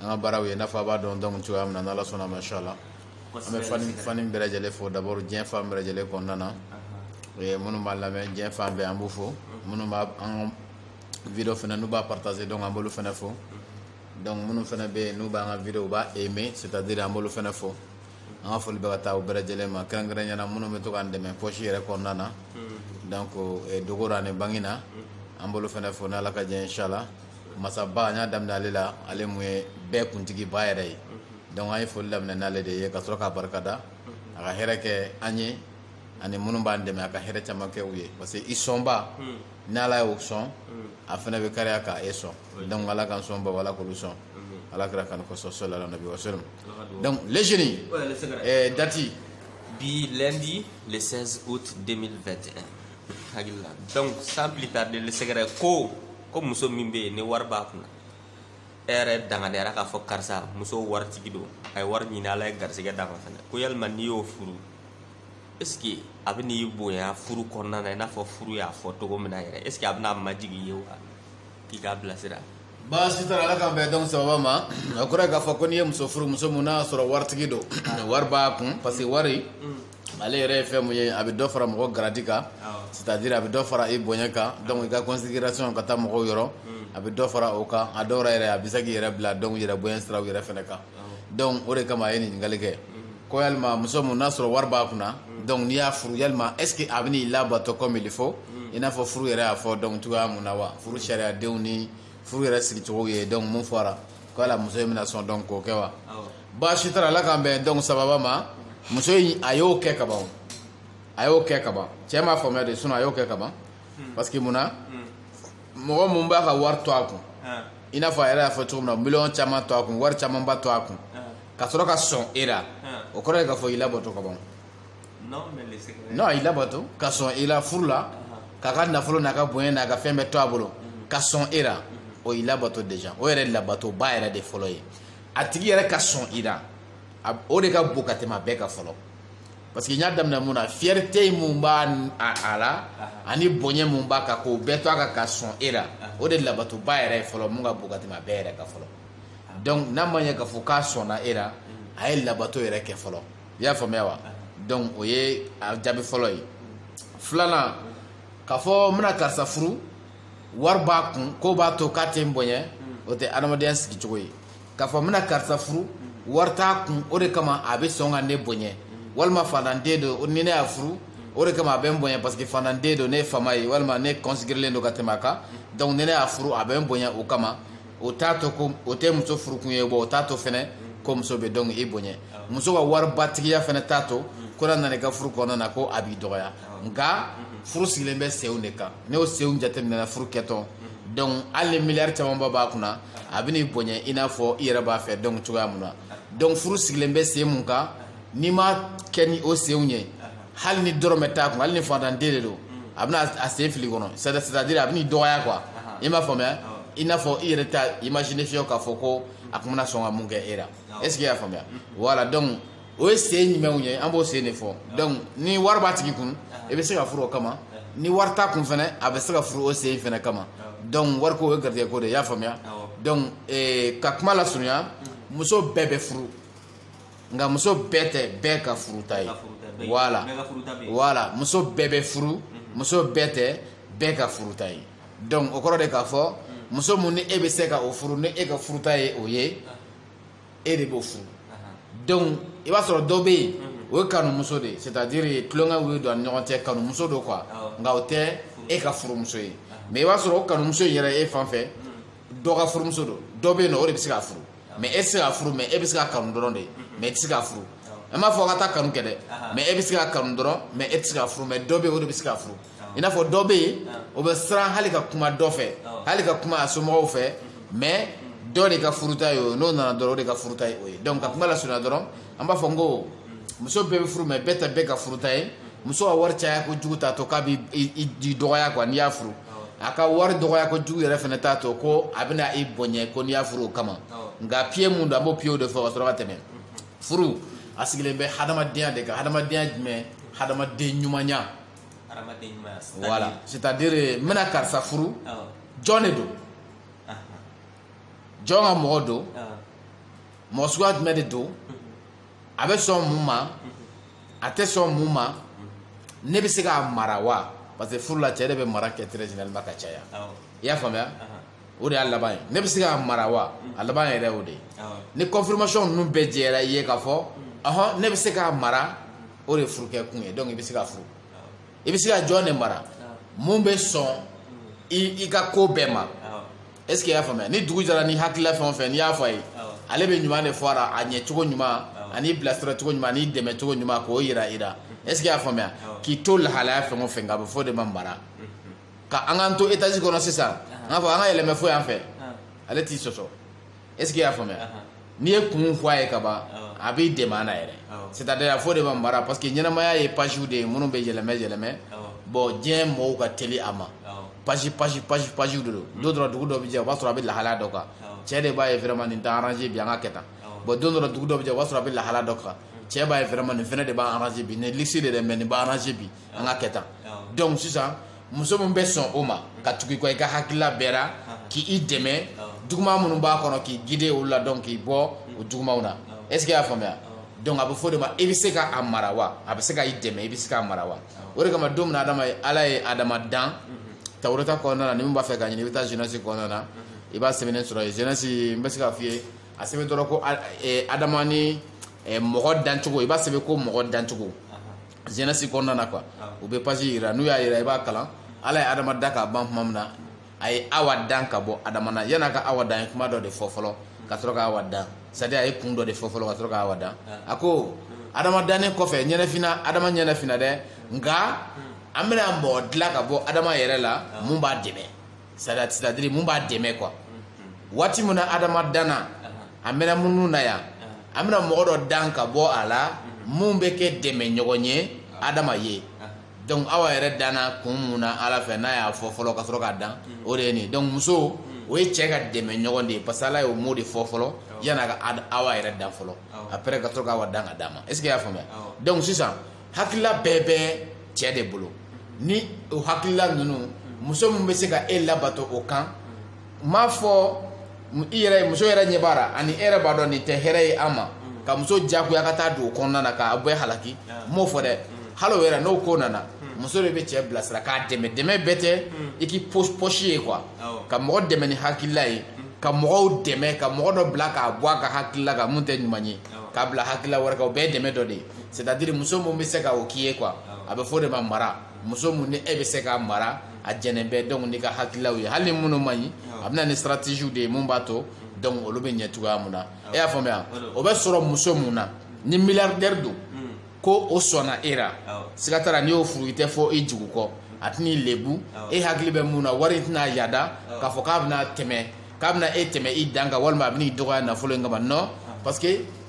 an ka baaraw ye n'a fɔ a b'a dɔn donc cogoya min na n'ala sɔnn'a ma inshallah an bɛ fan ni fan bɛɛ lajɛlen fo d'abord diɲɛ fan bɛɛ lajɛlen kɔnɔna na eh, minnu b'an lamɛn diɲɛ fan bɛɛ an b'u fo minnu b'a an video fana n'u b'a partager donc an b'olu fana fo donc minnu fana bɛ yen n'u b'an ka video u b'a aimer c'est à dire an b'olu fana fo an ka foli bɛ ka taa u bɛɛ lajɛlen ma kɛrɛnkɛrɛnyana minnu bɛ to k'an dɛmɛ poche yɛrɛ kɔnɔna na donc eh, dogora ni bangina an b'olu fana fo n'ala ka jɛ inshallah masaba an y'a daminɛ ale la ale mun ye bɛɛ kuntigiba yɛrɛ ye donc an ye foli daminɛ n'ale de ye ka sɔrɔ k'a barika da a ka hɛrɛ kɛ an ye ani minnu b'an dɛmɛ a ka hɛrɛ caman kɛ u ye parce que i sɔnba ni ala y'o sɔn a fana bɛ kariya ka e sɔn donc ala k'an sɔnbaw ala k'olu sɔn ala kira kanu kosɔn salalahu nabi wasalam donc les génies dati bi lundi le 16 août 2021 hakili la donc sans plus tarder le secret ko ko muso min bɛ yen ni wari b'a kunna e yɛrɛ dankɛnɛyara k'a fɔ karisa muso waritigi don a ye wari ɲini ala ye garisɛgɛ d'a kan fana ko yalima n'i y'o furu est ce que a bɛn'i bonya furu kɔnɔna na i n'a fɔ furu y'a fɔ cogo min na yɛrɛ est ce que a bɛna majigin i ye wa k'i kan bilasira baasi t'a la ala k'an bɛn donc sababa ma a kɔrɔ ye k'a fɔ ko n'i ye muso furu muso mun n'a y'a sɔrɔ waritigi don wari b'a kun parce que wari ale yɛrɛ ye fɛn mun ye a bɛ dɔ fara mɔgɔ garadi kan c'est à dire a bɛ dɔ fara i bonya kan donc i ka considération ka taa mɔgɔw yɔrɔ a bɛ dɔ fara o kan a dɔw la yɛrɛ a bɛ se k'i yɛrɛ bila donc yɛrɛ bonya siraw yɛrɛ fana kan donc o de kama a ye nin ɲininkali kɛ ko yalima muso mun n'a sɔrɔ wari b'a kunna donc n'i y'a furu yalima est ce que a bɛn'i labato comme il faut i n'a fɔ furu yɛrɛ y'a fɔ donc cogoya mun na wa furu sariyadenw ni furu yɛrɛ sigicogo ye donc mun fɔra ko yala muso in bɛna sɔn donc k'o kɛ wa baasi t'a la ala k'an bɛn donc sababa ma muso in a y'o kɛ ka ban o a y'o kɛ ka ban cɛ m'a faamuya de sinon a y'o kɛ ka ban hmm. parce que mun na hmm. mɔgɔ mun b'a ka wari to a kun i n'a fɔ a yɛrɛ y'a fɔ cogo min na miliyɔn caman to a kun wari camanba to a kun ka sɔrɔ ka sɔn e la o kɔrɔ ye k'a fɔ i labato ka ban non i labato ka sɔn i la furu la k'a ka nafolo n'a ka bonya n'a ka fɛn bɛɛ to a bolo ka sɔn e la o y'i labato déjà o yɛrɛ labatoba yɛrɛ de fɔlɔ ye a tigi yɛrɛ ka sɔn i la o de ka bon ka tɛmɛ a bɛɛ kan fɔlɔ parce que n y'a daminɛ mun na fierté mun b'a a la ani bonya mun b'a kan k'o bɛɛ to a kan ka sɔn e la o de labatoba yɛrɛ ye fɔlɔ mun ka bon ka tɛmɛ a bɛɛ yɛrɛ kan fɔlɔ donc n'a ma ɲɛ k'a fɔ k'a sɔnna e la a y'e labato yɛrɛ kɛ fɔlɔ i y'a faamuya wa donc o ye a jaabi fɔlɔ ye filanan k'a fɔ n bɛna karisa furu wari b'a kun k'o b'a to k'a tɛ n bonya o tɛ adamadenya sigicogo ye k'a fɔ n bɛna karisa furu wari t'a kun o de kama a bɛ sɔn ka ne bonya walima fantanden don ni ne y'a furu o de kama a bɛ n bonya parce que fantanden don ne ye faama ye walima ne considérélen don ka tɛmɛ a kan donc ni ne y'a furu a bɛ n bonya o kama o t'a to ko o tɛ muso furukun ye bon o t'a to fɛnɛ ko muso bɛ donc i bonya muso ka waribatigiya fɛnɛ t'a to ko n'a nana i ka furu kɔnɔna na ko a b'i dɔgɔya nka furu sigilen bɛ senw de kan n'o senw jateminɛna furu kɛtɔ donc hali ni miliyari camanba b'a kunna a bɛn'i bonya i n'a fɔ i yɛrɛ b'a fɛ donc cogoya mun na donc furu sigilen bɛ sen mun kan n'i m'a kɛ ni o senw ye hali ni dɔrɔmɛ t'a kun hali ni fantanden de don a bɛna a sen fili kɔnɔ c'est à dire a bɛn'i dɔgɔya quoi i m'a faamuya i n'a fɔ i yɛrɛ t'a imaginer fiyewu k'a fɔ ko a tun bɛna sɔn ka mun kɛ e la est ce que i y'a faamuya voilà donc o ye sen jumɛnw ye an b'o sen de fɔ donc ni wari b'a tigi kun i bɛ se k'a furu o kama ni wari t'a kun fɛnɛ a bɛ se ka furu o sen fɛnɛ kama donc wariko o ye garijɛgɛ ko de ye i y'a faamuya donc eh, ka kuma lasurunya muso bɛɛ bɛ furu nka muso bɛɛ tɛ bɛɛ ka furuta ye voilà voilà muso bɛɛ bɛ furu mhm. muso bɛɛ tɛ bɛɛ ka furuta ye donc o kɔrɔ de k'a fɔ mhm. muso mun ni e bɛ se ka o furu ni e ka furuta ye o ye ah. e de b'o furu donc i b'a sɔrɔ dɔ bɛ yen o ye kanumuso de ye c'est à dire tulon ka wuli don a ni ɲɔgɔn cɛ kanumuso don quoi nka o tɛ e ka furumuso ye mais i b'a sɔrɔ o kanumuso in yɛrɛ e fan fɛ dɔ ka furumuso don dɔ bɛ yen nɔ o de bɛ se k'a furu mais e tɛ se k'a furu mais e bɛ se k'a kanu dɔrɔn de mais e tɛ se k'a furu n m'a fɔ ka taa kanu kɛ dɛ mais e bɛ se k'a kanu dɔrɔn mais e tɛ se k'a furu mais dɔ bɛ yen o de bɛ se k'a furu i n'a fɔ dɔ bɛ yen o bɛ siran hali ka kuma dɔ fɛ hali ka kuma a somɔgɔw fɛ mais dɔ de ka furuta ye o n'o nana dɔrɔn o de ka furuta ye o ye donc ka kuma lasurunya dɔrɔn an b'a fɔ n ko muso bɛɛ bɛ furu mais bɛɛ tɛ bɛɛ ka furuta ye muso ka wari caya kojugu t'a to k'a b'i dɔgɔya quoi n'i y'a furu a ka wari dɔgɔya kojugu yɛrɛ fɛnɛ t'a to ko a bɛna i bonya ko n'i y'a furu o kama nka pied mun don an b'o pied de fɔ ka sɔrɔ ka tɛmɛ furu a sigilen bɛ hadamadenya de kan hadamadenya jumɛn hadamaden ɲumanya voilà c'est à dire n bɛna karisa furu jɔn de don jɔn ka mɔgɔ don mɔgɔ suguya jumɛn de don a bɛ sɔn mun ma a tɛ sɔn mun ma ne bɛ se k'a mara wa parce que furu la cɛ de bɛ mara kɛ très généralement ka caya i y'a faamuya o de y'a laban ye ne bɛ se k'a mara wa a laban yɛrɛ o de ye ni confirmation ninnu bɛɛ jɛra i ye k'a fɔ ɔhɔn ne bɛ se k'a mara o de ye furukɛ kun ye donc i bɛ se ka furu i bɛ se ka jɔn de mara mun bɛ sɔn i i ka ko bɛɛ ma est ce que i y'a faamuya ni dugu jɛra ni hakilila fɛn o fɛn n'i y'a fɔ a ye ale bɛ ɲuman de fɔ a la a ɲɛ cogo ɲuman ani bilasira cogo ɲuman ani dɛmɛ cogo ɲuman k'o yira i la est ce que i y'a faamuya k'i to lahalaya fɛn o fɛn kan a bɛ fɔ o de ma mara. ka an k'an to étage kɔnɔ sisan an k'a fɔ an ka yɛlɛmɛ fo yan fɛ ale t'i sɔsɔ est ce que i y'a faamuya n'i ye kun fɔ a ye ka ban a b'i dɛmɛ a la yɛrɛ c'est à dire a fɔ de ma mara parce que ɲɛnamaya ye pagew de ye minnu bɛ yɛlɛmɛ yɛlɛmɛ bon diɲɛ mɔgɔw ka teli a ma page page page pagew de don don dɔ dugu dɔ bɛ jɛ o b'a sɔrɔ a bɛ lahalaya dɔ kan cɛ de b'a ye vraiment nin tɛ arranger bi an ka kɛ tan bon don dɔ dugu dɔ bɛ jɛ o b'a sɔrɔ a bɛ lahalaya dɔ kan cɛ b'a ye vraiment nin fɛnɛ de b'a arranger bi nin luxe de dɛ mais nin b'a arranger bi an ka kɛ tan donc sisan muso min bɛ sɔn o ma ka tugu i kɔ i ka hakilila bɛɛ ra k'i dɛmɛ juguman minnu b'a kɔnɔ k'i guider olu la donc k'i bɔ o jugumanw na est ce que i y'a faamuya donc a bɛ fɔ de ma i bɛ se ka a mara wa a bɛ se ka i dɛmɛ i bɛ se k'a mara wa o de kama don min na adama ye ala ye adama dan tawureta kɔnɔna na ni min b'a fɛ k'a ɲini i bɛ taa genèse kɔnɔna na i b'a sɛbɛnnen sɔrɔ yen genèse n bɛ se k'a f'i ye a sɛbɛn dɔrɔn ko adama ni mɔgɔ dancogo i b'a sɛbɛn ko mɔgɔ dancogo genèse kɔnɔna na quoi ah. u bɛ page yira n'u y'a yira i b'a kalan ala ye adama dan ka ban tuma min na a ye awa dan ka bɔ adama na yan'a ka awa dan ye kuma dɔ de fɔ fɔlɔ ka sɔrɔ ka awa dan c'est à dire a ye kun dɔ de fɔ fɔlɔ ka sɔrɔ ka awa dan ah. a ko adama dannen kɔfɛ ɲɛnɛfina adama ɲɛnɛfina dɛ nka an bɛna mɔgɔ dilan ka bɔ adama yɛrɛ la ah. mun b'a dɛmɛ c'est à dire mun b'a dɛmɛ quoi waati min na adama danna a mɛna minnu na yan an bɛna mɔgɔ dɔ dan ka bɔ a la mun bɛ kɛ dɛmɛ ɲɔgɔn ye adama ye donc awa yɛrɛ danna kun mun na ala fɛ n'a y'a fɔ fɔlɔ ka sɔrɔ k'a dan o de ye nin donc muso o ye cɛ ka dɛmɛ ɲɔgɔn de ye parce que ala y'o mot de fɔ fɔlɔ yan'a ka awa yɛrɛ dan fɔlɔ après ka sɔrɔ k'awa dan k'a d'a ma est ce que i y'a faamuya donc sisan hakilila bɛɛ bɛ cɛ de bolo ni o hakilila ninnu muso min bɛ se ka e labato o kan n m'a fɔ i yɛrɛ muso yɛrɛ ɲɛ b'a la ani e yɛrɛ b'a dɔn nin tɛ hɛrɛ ye an ma ka muso jagoya ka taa don o kɔnɔna na k'a bɛɛ halaki n m'o fɔ dɛ hali o yɛrɛ n'o ko nana muso de bɛ cɛ bilasira k'a dɛmɛ dɛmɛ bɛɛ tɛ i k'i poche ye quoi ka mɔgɔ dɛmɛ ni hakilila ye ka mɔgɔw dɛmɛ ka mɔgɔ dɔ bila k'a bɔ a ka hakilila kan mun tɛ ɲuman ye k'a bila hakilila wɛrɛ kan o bɛɛ ye dɛmɛ dɔ de ye c'est-à-dire muso mun bɛ se ka o k'i ye quoi a bɛ fɔ de ma mara muso mun ni e bɛ se k'a mara a jɛnɛn bɛ donc n'i ka hakililaw ye hali ni minnu man ɲi a bɛ na ni stratégie de ye mun b'a to donc olu bɛ ɲɛ cogoya mun na e y'a faamuya o bɛ sɔrɔ muso mun na ni milliardaire don ko o sɔnna e la siga t'a la n'i y'o furu i tɛ fɔ i jugu kɔ a tɛn'i lebu e hakili bɛ mun na wari tɛna yada k'a fɔ k'a bɛna tɛmɛ k'a bɛna e tɛmɛ i dan kan walima a bɛna i dɔgɔya nafolo in kama non parce que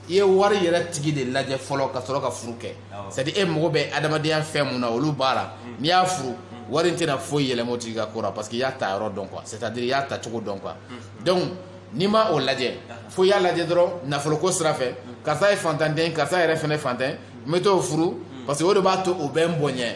i ye wari yɛrɛ tigi de lajɛ fɔlɔ ka sɔrɔ ka furu kɛ c'est à dire e mago bɛ adamadenya fɛn mun na olu b'a la n'i y'a furu wari in tɛna foyi yɛlɛma o tigi ka ko la parce que i y'a ta yɔrɔ dɔn quoi c'est à dire i y'a ta cogo dɔn quoi donc n'i ma o lajɛ fo i y'a lajɛ dɔrɔn nafoloko sira fɛ karisa ye fantanden karisa yɛrɛ fɛnɛ fantan n bɛ t'o furu parce que o de b'a to o bɛ n bonya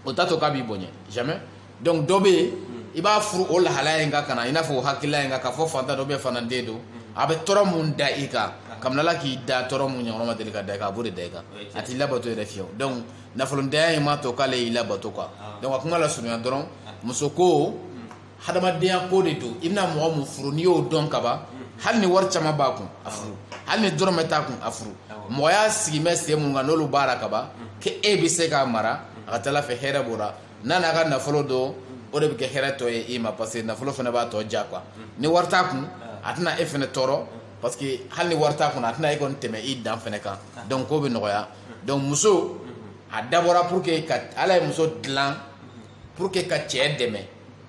o t'a to k'a b'i bonya jamais donc dɔ bɛ yen hmm. i b'a furu o lahalaya in kan ka na i n'a fɔ o hakilila in kan k'a fɔ fantan dɔ fantanden don hmm. a bɛ tɔɔrɔ mun da i kan ah. kabini ala k'i da tɔɔrɔ mun ɲɔgɔn ma deli ka da i kan a b'o de da i kan a t'i labato yɛrɛ fiyewu donc nafolotanya in m'a to k'ale y'i labato quoi ah. donc a kuma la surunya dɔrɔn ah. muso ko hmm. hadamadenya ko de don i bɛna mɔgɔ mun furu n'i y'o dɔn kaban hali ni wari caman b'a kun a furu hali ni dɔrɔmɛ t'a kun a furu mɔgɔya sigi bɛ sen mun kan n'olu b'a la kaban k'e bɛ se k'a mara a ka ca ala fɛ hɛrɛ b'o la n'a n'a ka nafolo don o de bɛ kɛ hɛrɛ tɔ ye i ma parce que nafolo fana b'a tɔ ja quoi ni wari t'a kun a tɛna e fana tɔɔrɔ parce que hali ni wari t'a kun a tɛna e kɔni tɛmɛ i dan fana kan donc ko bɛ nɔgɔya donc muso a dabɔra pour que ka ala ye muso dilan pour que ka cɛ dɛmɛ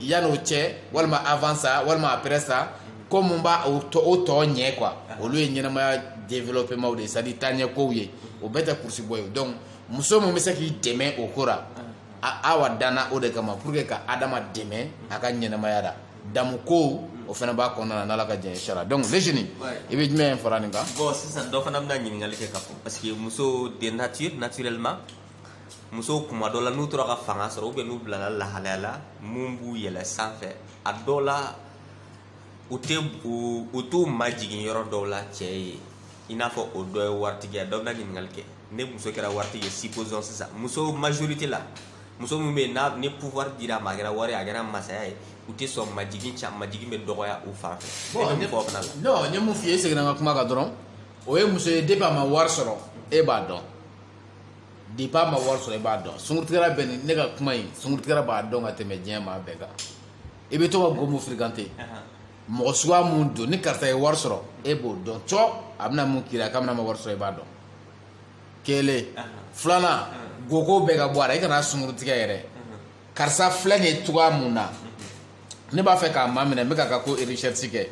yan'o cɛ walima avant ça walima après ça ko mun b'a o tɔ o tɔ ɲɛ quoi olu ye ɲɛnamaya développement de ye c'est à dire taaɲɛkow ye o bɛɛ tɛ kurusi bɔ ye donc muso min bɛ se k'i dɛmɛ o ko la awa danna o de kama pour que ka adama dɛmɛ a ka ɲɛnamaya la damu kow o fana b'a kɔnɔna na n'ala ka jɛn sara donc les jeunes i bɛ jumɛn fara nin kan bon sisan dɔ fana bɛna ɲininkali kɛ ka fɔ parce que muso de nature naturellement musow kuma dɔ la n'u tora ka fanga sɔrɔ ou bien n'u bilala lahalaya la mun b'u yɛlɛ sanfɛ a dɔw la u tɛ u t'u majigin yɔrɔ dɔw la cɛ ye i n'a fɔ o dɔ ye waritigi ye dɔ bɛna ɲininkali kɛ ne muso kɛra waritigi ye supposons sisan muso majorité la muso min bɛ yen n'a ni pouvoir dira a ma a kɛra wari a kɛra masaya ye u tɛ sɔn majigin ca majigin bɛ dɔgɔya u fan fɛ e bɛ mun fɔ o fana la. non n ye mun f'i ye n seginna n ka kuma kan dɔrɔn o ye muso ye depuis a ma wari sɔrɔ e b'a dɔn. depuis a ma wari sɔrɔ i b'a dɔn sunkurutigɛla bɛ nin ne ka kuma in sunkurutigɛla b'a dɔn ka tɛmɛ diɲɛ maa bɛɛ kan i bɛ to ka go mun fréquenter mɔgɔ suguya mun don ni karisa ye wari sɔrɔ e b'o dɔn cɔ a bɛna mun k'i la kabini a ma wari sɔrɔ i b'a dɔn kelen filanan go ko bɛɛ ka bɔ a la i kana sunkurutigɛ yɛrɛ karisa filɛ nin ye cogoya mun na ne b'a fɛ k'a maminɛ n bɛ k'a ka ko recherche kɛ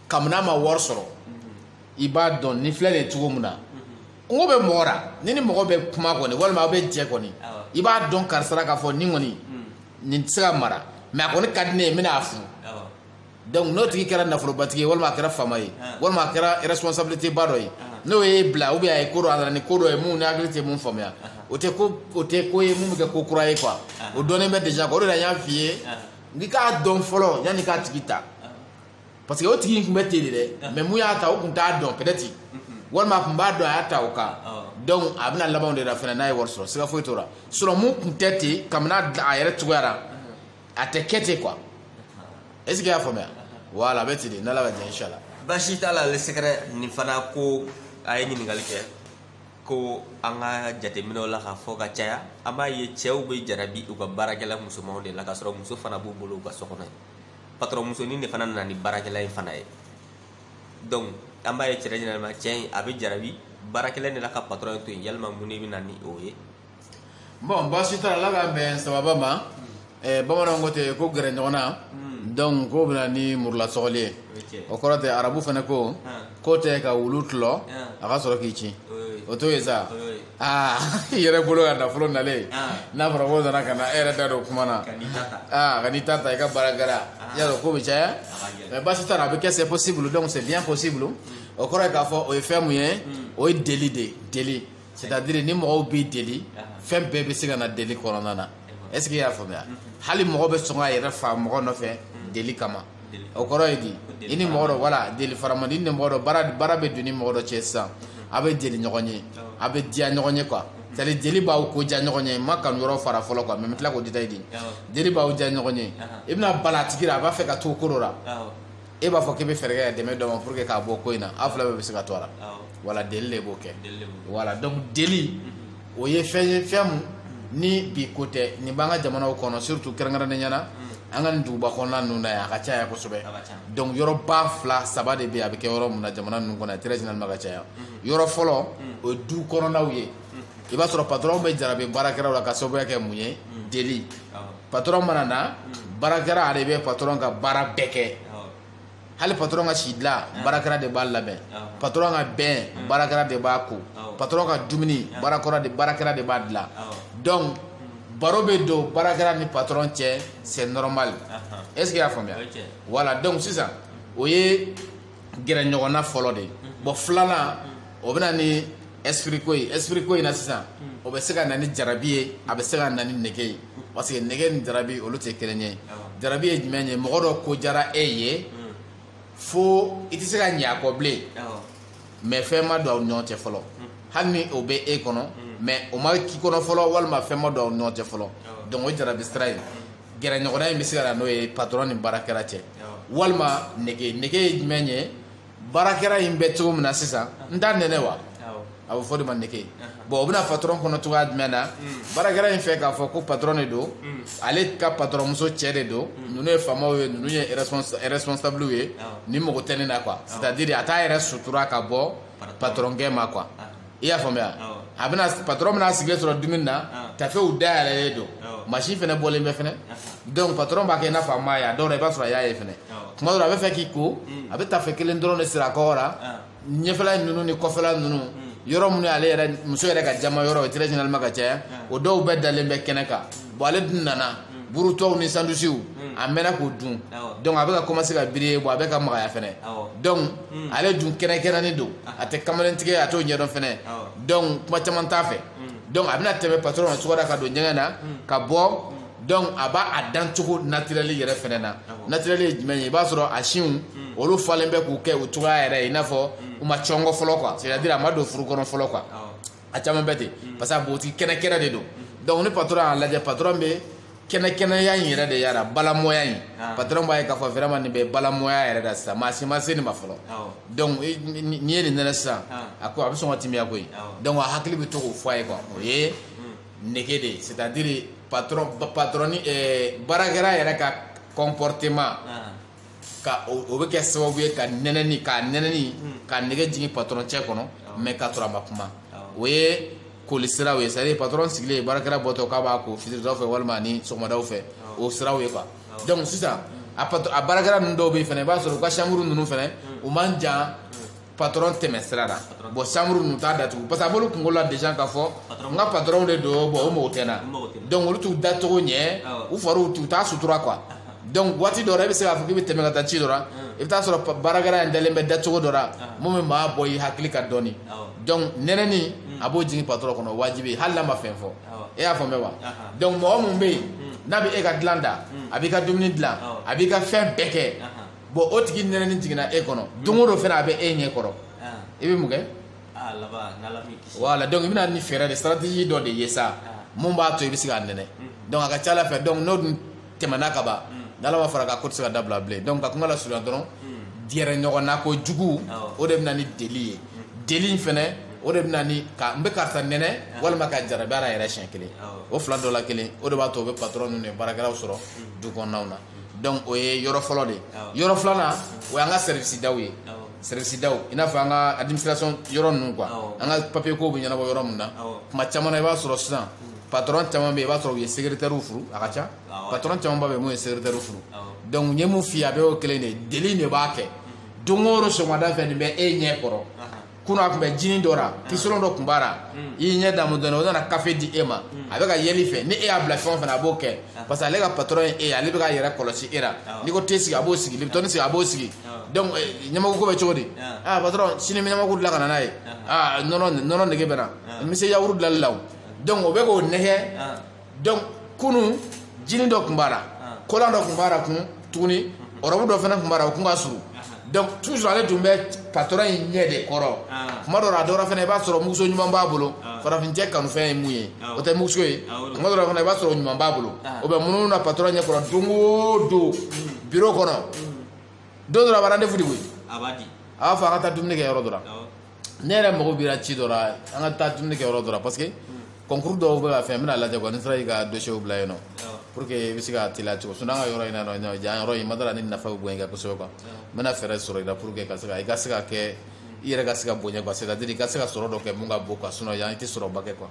kabini a ma wari sɔrɔ i b'a dɔn nin filɛ nin ye cogo min na kungo bɛ mɔgɔ la ni ni mɔgɔ bɛ kuma kɔni walima aw bɛ jɛ kɔni i b'a dɔn karisa la k'a fɔ nin kɔni hmm. nin tɛ se ka mara mais a kɔni ka di ne ye n bɛna a furu donc n'o tigi kɛra nafolobatigi ye walima a kɛra faama ye walima a kɛra responsabilité ba dɔ ye n'o y'e bila ou bien a ye ko dɔ a nana ni ko dɔ ye mun n'i hakili tɛ mun faamuya o tɛ ko o tɛ ko ye mun bɛ kɛ ko kura ye quoi o dɔnnen bɛ déjà o de la n y'a f'i ye n k'i k'a dɔn fɔlɔ yanni k'a tigi ta parce que o tigi in tun bɛ ten de dɛ ah. mais mun y'a ta o tun t'a dɔn peut-être mm-hmm. walima a tun b'a dɔn a y'a ta o kan ah. donc a bɛna laban de la fana n'a ye wari sɔrɔ siga foyi t'o la sinon mun tun tɛ ten kabini a yɛrɛ cogoya la mm-hmm. a tɛ kɛ ten quoi est ce que i y'a faamuya voilà a bɛ ten de n'ala ka jɛn inshallah baasi t'a la le secret nin fana ko a ye ɲininkali kɛ ko an ka jateminɛw la k'a fɔ ka caya an b'a ye cɛw bɛ jarabi u ka baarakɛla musomanw de la k'a sɔrɔ muso fana b'u bolo u ka so kɔnɔ yen patron musonin de fana nana ni baarakɛla in fana ye donc an b'a ye généralement cɛ in a bɛ jarabi baarakɛla de la ka patron in to yen yalima mun de bɛ na ni o ye bon baasi t'a la ala k'an bɛn sababa ma eh, bamananw ko ten ko gɛrɛ ɲɔgɔn na donc k'o bɛ na ni murulasɔgɔli ye o ye cɛ o kɔrɔ tɛ arabu fana ko Han. ko i t'i ka wulu tulɔ Han. a ka sɔrɔ k'i cin o ye o t'o ye sa o ye aa i yɛrɛ bolo ka nafolo nalen ah. n'a fɔra ko nana ka na e yɛrɛ da don kuma na ah, ka n'i ta ta i ka baara kɛra ah. y'a dɔn ko bɛ caya mais baasi t'a la a bɛ kɛ c'est possible donc c'est bien possible hmm. o kɔrɔ ye k'a fɔ o ye fɛn mun ye hmm. o ye deli de ye deli c'est à dire ni mɔgɔw bɛ deli fɛn bɛɛ bɛ se ka na deli kɔnɔna na est ce que i y'a faamuya hmm. hali mɔgɔ bɛ sɔn k'a yɛrɛ fa mɔgɔ nɔfɛ deli kama o kɔrɔ ye di i ni mɔgɔ dɔ voilà deli fara man di i ni mɔgɔ dɔ baro bɛ don ni mɔgɔ dɔ cɛ sisan a bɛ deli ɲɔgɔn ye a bɛ diya ɲɔgɔn ye quoi c'est à dire deli b'aw ko diya ɲɔgɔn ye n ma kanu yɔrɔ fara fɔlɔ quoi mais n bɛ tila k'o détailler di deli b'aw diya ɲɔgɔn ye i bɛna bala a tigi la a b'a fɛ ka to ko dɔ la e b'a fɔ k'i bɛ fɛɛrɛ kɛ ka dɛmɛ don a ma pour que k'a bɔ ko in na aw fila bɛɛ bɛ se ka to a la voilà deli de b'o kɛ voilà donc deli o ye fɛn ye fɛn mun ni bi ko tɛ nin b'an ka jamanaw kɔnɔ surtout kɛrɛnkɛrɛnnenya la an ka nin duguba kɔnɔna ninnu na yan a ka ca yan kosɛbɛ donc yɔrɔba fila saba de bɛ yen a bɛ kɛ yɔrɔ mun na jamana ninnu kɔnɔ très généralement ka caya yɔrɔ fɔlɔ o ye du kɔnɔnaw ye i b'a sɔrɔ patronw bɛ jarabi baarakɛlaw la ka sababuya kɛ mun ye deli patron mana na baarakɛla ale bɛ patron ka baara bɛɛ kɛ hali patron ka si dilan ah. baarakɛla de b'a labɛn ah. patron ka bain ah. baarakɛla de b'a ko patron ka dumuni baarakɛla de b'a dilan donc baro bɛ don baarakɛla ni patron cɛ c'est normal est ce que y'a faamuya voilà donc sisan o ye gɛrɛ ɲɔgɔnna fɔlɔ de ye mm-hmm. bon filanan mm-hmm. o bɛ na ni esprit ko in esprit ko in na sisan o bɛ se ka na ni jarabi ye a bɛ se ka na ni nege ye parce que nege ni jarabi olu tɛ kelen ye jarabi ye jumɛn ye mɔgɔ dɔ ko diyara e ye fo i tɛ se ka ɲɛ a kɔ bilen mais fɛn ma don aw ni ɲɔgɔn cɛ fɔlɔ hali ni o bɛ e kɔnɔ mais o ma k'i kɔnɔ fɔlɔ walima fɛn ma don aw ni ɲɔgɔn cɛ fɔlɔ donc o jarabi sira in gɛrɛɲɔgɔnna in bɛ se ka na n'o ye patron ni baarakɛla cɛ walima nege nege ye jumɛn ye baarakɛla in bɛ cogo min na sisan n t'a nɛnɛ wa a bɛ f'o de ma nege bon o bɛ na patɔrɔn kɔnɔ cogoya jumɛn na baarakɛla in fɛ k'a fɔ ko patɔrɔn de don ale ka patɔrɔnmuso cɛ de don ninnu ye faamaw ye ninnu ye responsable ye nin mago tɛ ne na quoi c'est à dire a t'a yɛrɛ sutura ka bɔ patɔrɔnkɛ ma quoi i y'a faamuya a bɛna patɔrɔn bɛna sigilen sɔrɔ dumuni na tafew dayɛlɛlen don machin fɛnɛ bɔlen bɛ fɛnɛ donc patɔrɔn b'a kɛ i n'a fɔ a m'a ye a dɔw la i b'a sɔrɔ a y'a ye fɛnɛ tuma dɔ la a b'a fɛ k'i ko a bɛ tafe kelen dɔrɔn de siri a kɔgɔ la ɲɛfɛla ninnu ni kɔfɛla ninnu yɔrɔ minnu ale yɛrɛ muso yɛrɛ ka jama yɔrɔ très généralement ka caya o dɔw bɛɛ dalen bɛ kɛnɛ kan bon ale dun nana buru tɔw ni sandusiw a mɛnna k'o dun donc a bɛ ka commencer ka biri bon a bɛ ka magaya fɛnɛ donc hmm. ale dun kɛnɛkɛnɛnin don ah. a tɛ kamalentigɛ a t'o ɲɛdɔn fɛnɛ donc kuma caman t'a fɛ hmm. donc a bɛna tɛmɛ patron na cogoya ka don ɲɛgɛn na hmm. ka bɔ donc a b'a a dancogo naturɛli yɛrɛ fɛnɛ na naturɛli ye jumɛn ye i b'a sɔrɔ a sinw hmm. olu falen bɛ k'u kɛ u cogoya yɛrɛ ye i n'a fɔ hmm. u ma cɔngɔ fɔlɔ quoi c'est à dire a ma don furu kɔnɔ fɔlɔ quoi a caman bɛ ten parce que a bogotigi kɛnɛkɛnɛ de don donc ni patron y'a lajɛ patron bɛ kɛnɛkɛnɛya in yɛrɛ de y'a la balamɔya in patron b'a ye k'a fɔ vraiment nin bɛ balamɔya yɛrɛ la sisan maa si ma se nin ma fɔlɔ donc n'i ye nin nɛnɛ sisan a ko a bɛ sɔn ka timiya koyi donc a hakili bɛ to k'o fɔ a ye quoi o ye nege de ye c'est à dire patron patron baarakɛla yɛrɛ ka comportement ka o bɛ kɛ sababu ye ka nɛnɛni ka nɛnɛni hmm. ka nege jigin patɔrɔn cɛ kɔnɔ mais k'a sɔrɔ a ma kuma o ye koli siraw ye c'est-à-dire patɔrɔn sigilen baarakɛla bɔtɔ k'a b'a ko fitiridaw fɛ walima ni sɔgɔmadaw fɛ o siraw ye quoi donc sisan a baarakɛla ninnu dɔw bɛ yen fɛnɛ i b'a sɔrɔ u ka chambre ninnu fɛnɛ hmm. u man jan patron tɛmɛ sira la bon chambre ninnu t'a datugu parce que a b'olu kungolo la déjà k'a fɔ n ka patron de don bon o mago tɛ n na donc olu t'u dacogo ɲɛ u fariw t'u t'a sutura quoi donc waati dɔ la i bɛ se k'a fɔ k'i bɛ tɛmɛ ka taa ci dɔ la i bɛ taa sɔrɔ baarakɛla in dalen bɛ dacogo dɔ la mun bɛ maa bɔ i hakili kan dɔɔni donc nɛnɛni a b'o jigin patron kɔnɔ wajibi hali n'a ma fɛn fɔ e y'a faamuya wa donc mɔgɔ mun bɛ yen n'a bɛ e ka dilan da a b'i ka dumuni dilan a b'i ka fɛn bɛɛ kɛ. bon o tigi nɛnɛni jiginna e kɔnɔ don o don fɛnɛ a bɛ e ɲɛ kɔrɔ i bɛ mun kɛ voilà donc i bɛ na ni fɛɛrɛ de stratégie dɔ de ye sa mun b'a to i bɛ se k'a nɛnɛ donc a ka c'a la fɛ donc n'o dun tɛmɛna ka ban n'ala ma far'a kan ko tɛ se ka dabila bilen donc ka kuma lasurunya dɔrɔn gɛrɛ ɲɔgɔn na kojugu o de bɛ na ni deli ye deli in fɛnɛ o de bɛ na ni ka n bɛ karisa nɛnɛ walima ka jarabi a yɛrɛ siɲɛ kelen o fila dɔ la kelen o de b'a to o bɛ patɔrɔn ninnu ni baarakɛlaw sɔrɔ du kɔnɔnaw na donc o ye yɔrɔ fɔlɔ de ye yɔrɔ filanan o y'an ka sɛrivisi daw ye sɛrivisi daw i n'a fɔ an ka administration yɔrɔ ninnu quoi an ka papier kow bɛ ɲɛnabɔ yɔrɔ min na kuma caman na i b'a sɔrɔ sisan patron caman bɛ yen i b'a sɔrɔ u ye secrétaire furu a ka ca patron caman ba bɛ yen mun ye secrétaire furu donc n ye mun f'i ye a bɛɛ y'o kelen de ye deli de b'a kɛ don o don sɔgɔmada fɛ nin bɛ e ɲɛ kɔrɔ kunu a tun bɛ jinin dɔ ra kisolon dɔ tun b'a ra i y'i ɲɛ damu dɔɔni o nana kafe di e ma a bɛ ka yɛlɛ i fɛ ni e y'a bila fɛn o fɛn na a b'o kɛ parce que ale ka patɔrɔn ye e ye ale bɛ k'a yɛrɛ kɔlɔsi e la n'i ko te sigi a b'o sigi libitɔni sigi a b'o sigi donc ɲamaku ko bɛ cogo di aa patɔrɔn sini n bɛ ɲamaku dilan ka na n'a ye aa nɔnɔ nɔnɔ nege bɛ n na n bɛ se yawuru dilanli la o donc o bɛ k'o nɛgɛ donc kunu jini dɔ tun b'a la ah. kolan dɔ tun b'a la kun tuguni ɔrɔbu mhm. dɔ fana tun b'a la o tun ka surun ah. donc toujours ale tun bɛ patɔrɔn in ɲɛ de kɔrɔ ah. kuma dɔ la a dɔwɛrɛ fana i b'a sɔrɔ muguso ɲuman b'a bolo farafincɛ kanufɛn ye mun ye o tɛ muguso ye kuma dɔ la fana i b'a sɔrɔ ɲuman b'a bolo o bɛ munumunu na patɔrɔn ɲɛ kɔrɔ don o don mm. biro kɔnɔ mm. don dɔ la a bɛ rendez-vous di quoi a b'a fɔ an ka taa dumuni kɛ yɔrɔ dɔ la ne yɛrɛ mago b'i ra ci dɔ la an ka taa dumuni kɛ yɔrɔ dɔ la parce que concours dɔw bɛ ka fɛn n bɛn'a lajɛ quoi ni n sera k'i ka dossier bila yen nɔ pour que i bɛ se ka teliya cogo sinon an ka yɔrɔ in na nɔ jan yɔrɔ in ma dala ni nafa bɛ bonya i kan kosɛbɛ quoi n bɛna fɛɛrɛ sɔrɔ i la pour que ka se ka i ka se ka kɛ i yɛrɛ ka se ka bonya quoi c'est à dire i ka se ka sɔrɔ dɔ kɛ mun ka bon quoi sinon yan i tɛ sɔrɔba kɛ quoi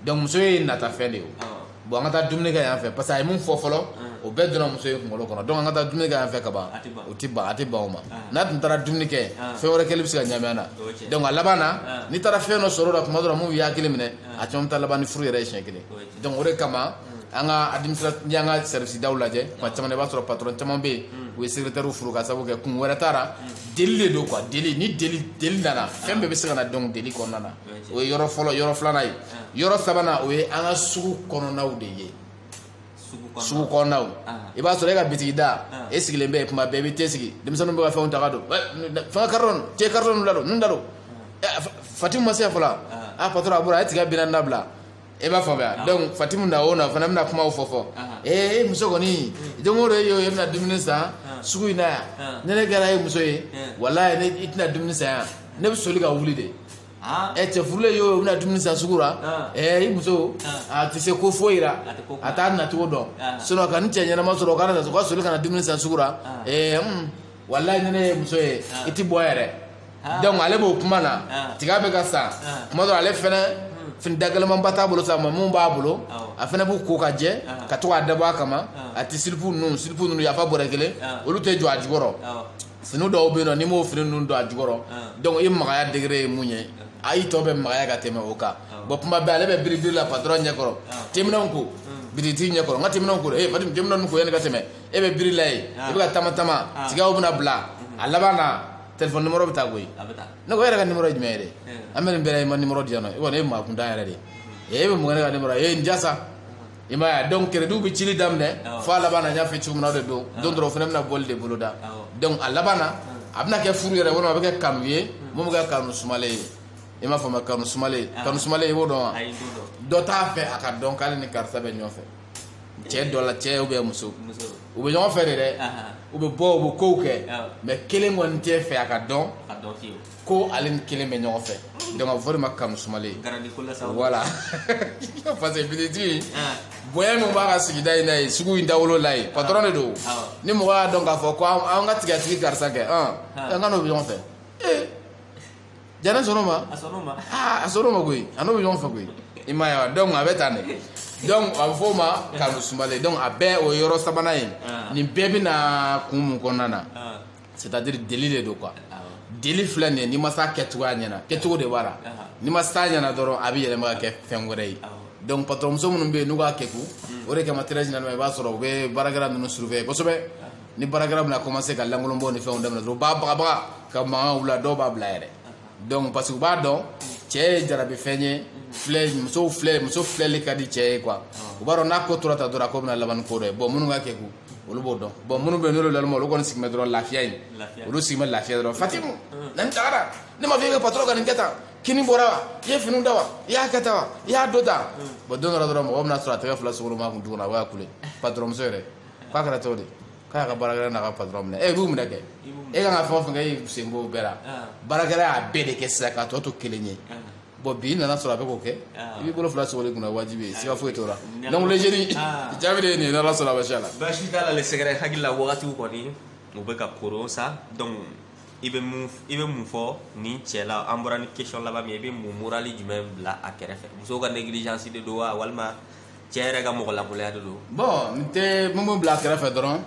donc muso ye natafɛn de ye o. bɔn an ka taa dumuni kɛ yan fɛ parce que a ye mun fɔ fɔlɔ o bɛɛ donna muso in kunkolo kɔnɔ donc an ka taa dumuni kɛ yan fɛ ka ban o ti ban a ti ban o ma n'a tun taara dumuni kɛ fɛn wɛrɛ kɛli bɛ se ka ɲami an na donc a laban na n'i taara fɛn dɔ sɔrɔ o la tuma dɔ la mun b'i hakili minɛ a caman bɛ taa laban ni furu yɛrɛ ye siɲɛ kelen donc o de kama an ka administration n'i y'an ka service daw lajɛ kuma caman i b'a sɔrɔ patron caman bɛ yen u ye secrétaire furu ka sababu kɛ kun wɛrɛ t'a ra deli de don quoi deli ni deli deli nana fɛn bɛɛ bɛ se ka na donc deli kɔnɔna na o ye yɔrɔ fɔlɔ yɔrɔ filanan ye yɔrɔ sabanan o ye an ka sugu kɔnɔnaw de ye sugu kɔnɔnaw i b'a sɔrɔ e ka bitigi da e sigilen bɛ kuma bɛɛ i bɛ te sigi denmisɛnninw bɛ ka fɛnw ta ka don fɛn karitɔn ta karitɔn ninnu da don ninnu da don fatim ma se yan fɔlɔ a patɔrɔn a bɔra a ye tiga binna dabila e b'a faamuya donc fatimu na o na fana bɛna kumaw fɔ fɔ ee e muso kɔni don o don e y'o ye e bɛ na dumuni san sugu in na yan ni ne kɛra e muso ye walayi ne i tɛ na dumuni san yan ne bɛ soli ka wuli de ɛ cɛ furulen y'o ye o bɛ na dumuni san sugu la ɛ i muso a tɛ se ko foyi la a t'a nacogo dɔn sinɔn ka nin cɛ ɲɛnama sɔrɔ o ka na o ka soli ka na dumuni san sugu la ee walayi ni ne y'i muso ye ah. i ti bɔ yɛrɛ ah. donc ale b'o kuma na ah. tiga bɛ ka san kuma dɔ ale fɛnɛ hmm. fini dagɛlɛmanba t'a bolo sa mais mun b'a bolo a fɛnɛ b'u ko ka jɛ ka to k'a dabɔ a kama a ti silipu ninnu silipu ninnu yafa bɔrɛ kelen olu tɛ jɔ a jukɔrɔ fini dɔw bɛ yen nɔ n'i m'o fini ninnu don a jukɔrɔ donc i magaya degré ye mun ye a y'i tɔ bɛ magaya ka tɛmɛ o kan bɔn kuma bɛɛ ale bɛ biribiri la patɔrɔn ɲɛkɔrɔ teminɛnw ko bitigi ɲɛkɔrɔ n ka teminɛnw ko ee fatim teminɛnw ko yanni i ka tɛmɛ e bɛ biri la yen i bɛ ka taama taama tigaw bɛna bila a laban na telefɔni nimɔrɔ bɛ taa koyi ne ko e yɛrɛ ka nimɔrɔ ye jumɛn ye dɛ an bɛ nin bɛɛ la i ma nimɔrɔ di yan nɔ e kɔni e ye maakuntan yɛrɛ de ye e bɛ mun kɛ ne ka nimɔrɔ ye e n jasa i m'a ye donc kerediw bɛ cili daminɛ fo a laban na n y'a fɔ cogo min na o de don don dɔrɔn o fana bɛna bɔli de boloda donc a laban na a bɛna kɛ furu yɛrɛ walima a bɛ kɛ kanu ye mun bɛ kɛ kanu sumalen ye i m'a faamuya kanu sumalen kanu sumalen i b'o dɔn wa dɔ t'a fɛ a ka dɔn k'ale ni karisa bɛ ɲɔgɔn fɛ cɛ dɔ la cɛ ou bien muso u bɛ ɲɔgɔn fɛ de dɛ u bɛ bɔ u bɛ kow kɛ mais kelen kɔni t'a fɛ a ka dɔn ko ale ni kelen bɛ ɲɔgɔn fɛ donc a bɛ fɔ o de ma kanu sumalen voilà parce que bitikitigi bonya min b'a ka sigida in na yen sugu in dawolo la yen patron de don ni mɔgɔ y'a dɔn k'a fɔ ko an ka tigatigi karisa kɛ an ka n'o bɛ ɲɔgɔn fɛ jara sɔrɔ ma a sɔrɔ ma a sɔrɔ ma koyi a n'o bɛ ɲɔgɔn fɛ koyi i ma ye wa donc a bɛ tan de donc a bɛ fɔ o ma kanu sumalen donc a bɛɛ o ye yɔrɔ sabanan ye nin bɛɛ bɛ na kun mun kɔnɔna na c'est à dire deli de don quoi deli filɛ nin ye n'i ma s'a kɛcogoya ɲɛna kɛcogo de b'a la n'i ma s'a ɲɛna dɔrɔn a bɛ yɛlɛma ka kɛ fɛn wɛrɛ ye donc patɔrɔnmuso minnu bɛ yen n'u b'a kɛ kun o de kama très généralement i b'a sɔrɔ u bɛ baarakɛla ninnu surveiller kosɛbɛ ni baarakɛla bɛna commencer ka lankolonbɔ ni fɛnw daminɛ dɔrɔn u b'a bagabaga ka mankan wuli a dɔw b'a bila yɛrɛ donc parce que u b'a dɔn cɛ ye jarabi fɛn ye filɛ musow filɛ muso filɛli ka di cɛ ye quoi u b'a dɔn n'a ko tora tan dɔrɔn a ko bɛna laban ni ko dɔ ye bon minnu ka kegun olu b'o dɔn bon minnu bɛ yen n'olu naloma olu kɔni sigi bɛ dɔrɔn lafiya in olu sigi bɛ lafiya dɔrɔn fatimu na n tagara ne ma fɔ i ka patɔrɔn ka nin kɛ tan kini bɔra wa i ye finiw da wa i y'a kɛ tan wa i y'a dɔ tan bon don dɔ la dɔrɔn mɔgɔ bɛna sɔrɔ a tɛgɛ fila sogolon a kun tuguni a b'a kule patɔrɔnmuso yɛrɛ k'a kɛra cogo di k'a y'a ka baarakɛla n'a ka patɔrɔn minɛ e b'u minɛ kɛ e kan ka fɛn o fɛn kɛ i sen b'o bɛɛ la baarakɛla y'a bɛɛ de kɛ sisan k'a tɔ to kelen ye bon bi nana sɔrɔ a bɛ k'o kɛ i b'i bolo fila sogolon i kun na wajibi ye siga foyi t'o la donc le jeune jaabi de ye nin ye n'ala sɔnna baasi t'a la baasi t'a la le sɛgɛrɛ hakili la wagatiw kɔni u bɛ ka koron sa donc i bɛ mun i bɛ mun fɔ nin cɛ la an bɔra ni question laban min ye i bɛ mun morali jumɛn bila a kɛrɛfɛ musow ka négligence de don wa walima cɛ yɛrɛ ka mɔgɔlankolonya de don bon n tɛ mun bɛ bila a kɛrɛfɛ dɔrɔn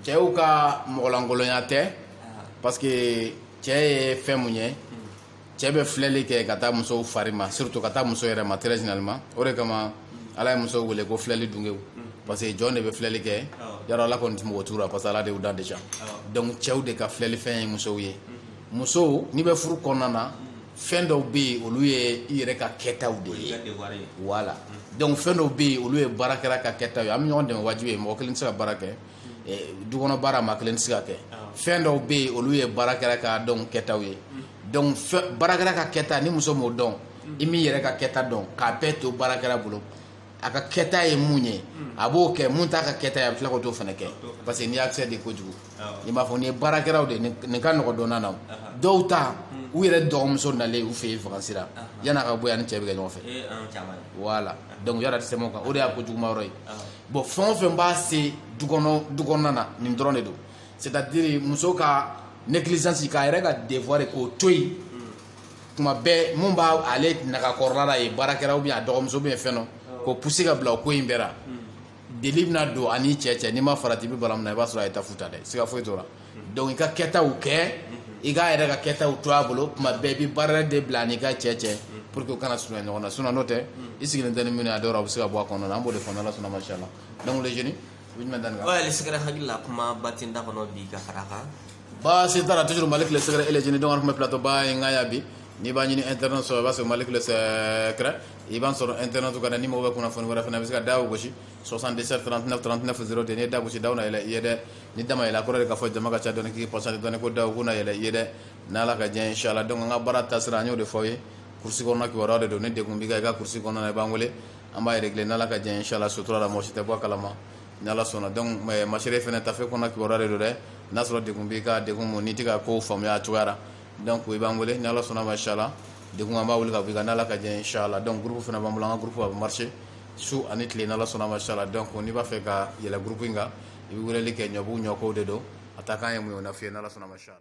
cɛw ka mɔgɔlankolonya tɛ parce que cɛ ye fɛn mun ye cɛ bɛ filɛli kɛ ka taa musow fari ma surtout ka taa muso yɛrɛ ma très généralement o de kama ala ye musow wele ko filɛli dungew parce que jɔn de bɛ filɛli kɛ yarɔ ala kɔni tɛ mago t'u la parce que ala de y'u dan déjà donc cɛw de ka filɛli fɛn ye musow ye musow n'i bɛ furu kɔnɔna na fɛn dɔw bɛ yen olu ye i yɛrɛ ka kɛtaw de ye voilà donc fɛn dɔw bɛ yen olu ye baarakɛla ka kɛtaw ye an bɛ ɲɔgɔn dɛmɛ wajibi ye mɔgɔ kelen tɛ se ka baara kɛ du kɔnɔ baara maa kelen tɛ se ka kɛ fɛn dɔw bɛ yen olu ye baarakɛla ka dɔn kɛtaw ye donc baarakɛla ka kɛta ni muso m'o dɔn i m'i yɛrɛ ka kɛta dɔn k'a bɛɛ to baarakɛla bolo a ka kɛta ye mun ye a b'o kɛ mun t'a ka kɛta ye a bɛ tila k'o t'o fana kɛ parce que n'i y'a kɛ de kojugu i b'a fɔ nin ye baarakɛlaw de nin ka nɔgɔ dɔnna na dɔw ta hmm. u yɛrɛ dɔgɔmuso nalen u fɛ yen vakansi la yani a ka bɔ yan ni cɛ bɛ kɛ ɲɔgɔn fɛ voilà donc yala tɛ tɛmɛ o kan o de y'a ko juguma yɔrɔ ye bon fɛn o fɛn b'a se du kɔnɔna na nin dɔrɔn de don c'est à dire muso ka négligence k'a yɛrɛ ka devoir k'o to yen tuma bɛɛ mun b'a ale nagakɔrɔla la ye baarakɛla ou bien a dɔgɔmuso ou bien fɛn dɔ k'o pousser ka bila o ko in bɛɛ la deli bɛna don a ni cɛ cɛ n'i ma farati i bɛ bala min na i b'a sɔrɔ a ye tafu ta dɛ siga foyi t'o la donc i ka kɛtaw kɛ i k'a yɛrɛ ka kɛtaw to a bolo tuma bɛɛ i bɛ baara de bila a n'i ka cɛ cɛ pour que u kana surunya ɲɔgɔn na sinon n'o tɛ i sigilen tɛ ni minnu ye a dɔw la a bɛ se ka bɔ a kɔnɔna na an b'o de fɔ n'ala sɔnna masha Allah donc les jeunes i bɛ jumɛn da nin kan. ouais le secret hakili la kuma ba tɛ n da kɔnɔ bi ka fara a kan. baasi t'a la toujours Malick le secret et les jeunes donc an tun bɛ plateau ba in kan yan bi n'i b'a ɲini internet sɔrɔ i b'a sɔrɔ Malick le secret i b'an sɔrɔ internet kan dɛ ni mɔgɔ bɛ kunnafoni wɛrɛ fɛ i bɛ se ka da o gosi 77 39 39 0 tɛ n'i ye da gosi daw na yɛlɛ i ye dɛ ni da ma yɛlɛ a kɔrɔ de k'a fɔ jama ka ca dɔɔni k'i patience dɔɔni ko daw ko na yɛlɛ i ye dɛ n'ala ka diɲɛ ye inshallah donc an ka baara taasira an y'o de fɔ aw ye kurusi kɔnɔna kibaruya de don ni degun b'i kan i ka kurusi kɔnɔna na i b'an wele an b'a régler n'ala ka diɲɛ ye inshallah sutura la mɔgɔ si tɛ bɔ a kalama ni ala sɔnna donc masere fana tafe kɔnɔna kibaruya de don dɛ n'a sɔrɔ degun b'i kan degun mun n'i tɛ ka kow faamuya a cogoya la donc i b'an wele ni ala sɔnna masha Allah degun an b'a wuli ka bɔ i kan n'ala ka diɲɛ inshallah donc groupe fana b'an bolo an ka groupe a bɛ marcher su ani tile n'ala sɔnna masha Allah donc n'i b'a fɛ ka yɛlɛn groupe in kan i bɛ weleli kɛ ɲɔbugu ɲɔkow de don a ta kan ye mun ye o na f'i ye n'ala sɔnna masha Allah